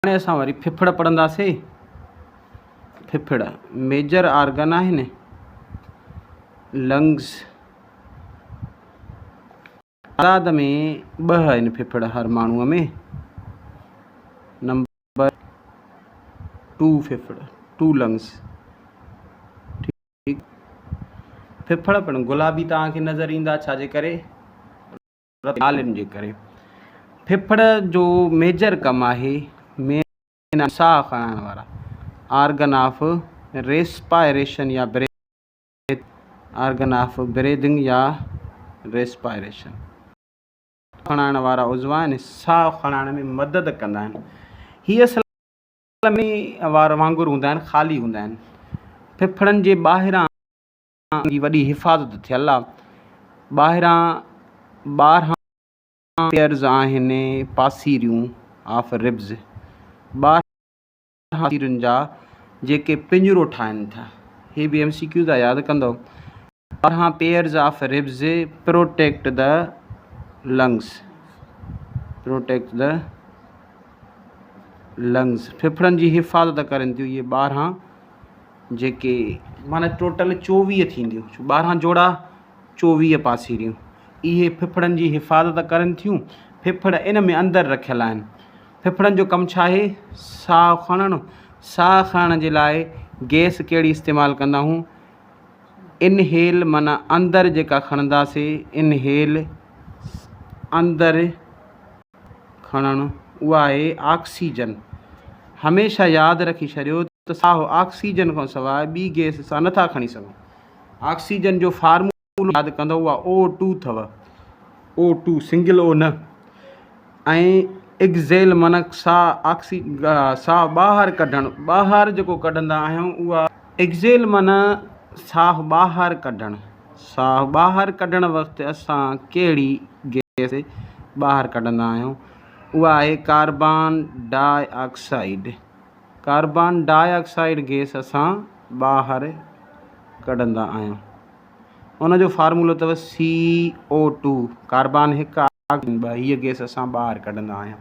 هاڻي اسان وري ڦڦڙ پڙهنداسين. ڦڦڙ ميجر آرگن آهن، Lungs. تعداد ۾ ٻه آهن ڦڦڙ هر ماڻهوء ۾. نمبر ٽو ڦڦڙ، Two Lungs. ڦڦڙ پڻ گلابي توهان کي نظر ايندا، ڇا جي ڪري؟ عالم جي ڪري ڦڦڙ جو ميجر ڪم آهي مين آف ساهه کڻائڻ وارا آرگن آف ريسپائريشن يا بريٿ آرگن آف بريڌنگ يا ريسپائريشن کڻائڻ وارا عضوا آهن ساهه کڻائڻ ۾ مدد ڪندا آهن هي اصل ۾ وار وانگر هوندا آهن خالي هوندا آهن ڦڦڙن جي ٻاهران جي وڏي حفاظت ٿيل آ ٻاهران ٻارهن پيئرز آهن پاسيريون آف ربز ٻارهن پاسيرين جا جيڪي پڃرو ٺاهن ٿا هي به ايم سي ڪيو جا ياد ڪندو ٻارهن pairs of ribs protect the lungs protect the lungs ڦڦڙن جي حفاظت ڪرن ٿيون اهي ٻارهن جيڪي معنيٰ ٽوٽل چوويهه ٿينديون ڇو ٻارهن جوڙا چوويهه پاسيريون اهي ڦڦڙن جي حفاظت ڪرن ٿيون ڦڦڙ ان ۾ اندر رکيل آهن ڦڦڙن جو ڪم ڇا آهي ساهه کڻڻ ساهه کڻڻ جي لاء گئس ڪهڙي استعمال ڪندا آهيون انهيل معنيٰ اندر جيڪا کڻنداسي انهيل اندر کڻڻ اها آهي آڪسيجن. هميشه ياد رکي ڇڏيو ته ساهو آڪسيجن کان سواء ٻي گئس سان نٿا کڻي سگهو. آڪسيجن جو فارمولو ياد ڪندو اها او ٽو اٿو. او ٽو سنگل او نه. ۽ اگزيل منڪ ساهه آڪسي ساهه ٻاهر ڪڍڻ ٻاهر جيڪو ڪڍندا آهيون اها اگزيل منه ساهه ٻاهر ڪڍڻ. ساهه ٻاهر ڪڍڻ وقت اسان ڪهڙي گئس ٻاهر ڪڍندا آهيون اها آهي carbon dioxide. Carbon dioxide gas اسان ٻاهر ڪڍندا آهيون ان جو فارمولو اٿو سي او ٽو ڪاربان هڪ آڪسيجن ٻه هيء گئس اسان ٻاهر ڪڍندا آهيون.